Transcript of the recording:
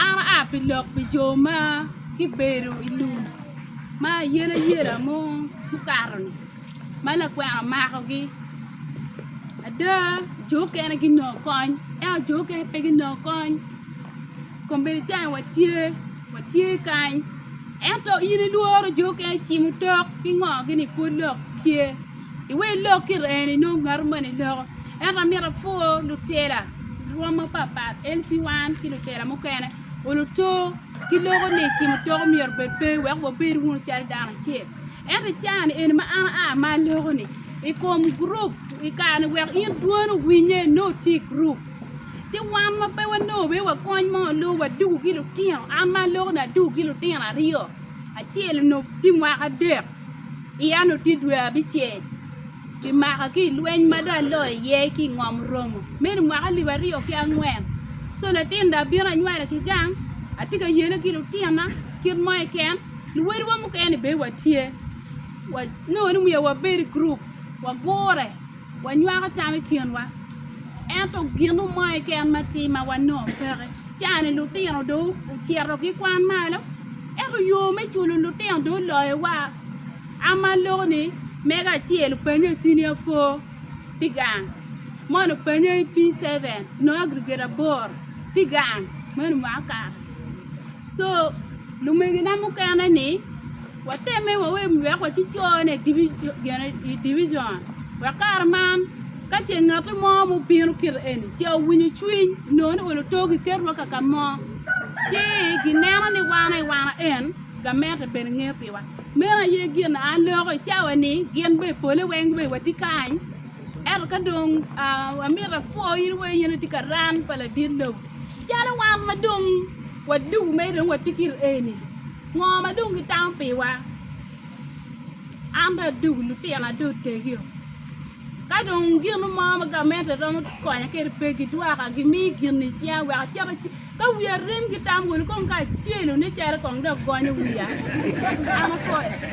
An aa pi lok pi jo ma gibedo i lum ma ayelayela mo mukato-ni ma lakwena omakogi ada jo okene ginongo kony ento jo okene pe ginongo kony kombeddi calo en aye watye watye kany ento in ilworo jo okene cimo tok ki ngo-gini pud lok tye Iwe ilok ki ren inong ngatu moni loko. Ento amito apwoo lutela rwom mapapat LC1 ki lutela mukene oluto ki loko ni cimo toko myero obed pe wek wabed wunu calo dano acel. Ento i cawa ni eni ma an a ma aloko ni ikom group i kare ni wek in dwoni owinye nongo itye i group ci wan ma pe wanongo obed wa kony mo nongo wadugu ki lutino an ma aloko ni adugu ki lutino aryo acel onongo tye mwaka adek. I Annutit dwe abicel, kimaka ki i lweny ma dong alo iye ki i ngom Romo, meno mwaka alip aryo ki angwen. Co latin dong abino anywalo ki gang, atye ka yele ki lutina kit mo keken, luwotwa mukene bene watye, nongo ni omyero wabed i gurup wagure. Wanywako tam i kinwa, ento ginu mo keken ma atir ma wanongo peke. Caani lutino dong ocito ki kwan malo, ento yo me culo lutino dong oloyowa. An ma aloko-ni, mego acel opennye i cinia four tye gang, moni opennye i P seven nongo agriget aboro tye gang, meno mwaka okato. Co, lumegina mukene-ni. Watemme wawe wek waci cone i division wek kare man ka ce ngat mo ma obino kit eni ce owinyo cwiny nongo ni olo too giketwa kaka mo ci gineno ni wan aye wan en gamente bene nge piwa meno aye gin a aloko i cawa ni gin bene i pole weng bene watye kany ento ka dong amito apwoo in weng in itye ka ran pa ladit lobo calo wan ma dong wadugo mere dong watye kit eni. Ngo ma dong gitamo piwa? An dong adugu lutina dong otegio. Ka dong gino mo ma gamente romo konya kede pe gidwoka gimi gini icinga wek acit aci ka wiya rim gitam wunu kong kacelu ni cere kong dong gonyo wiya an akoyo.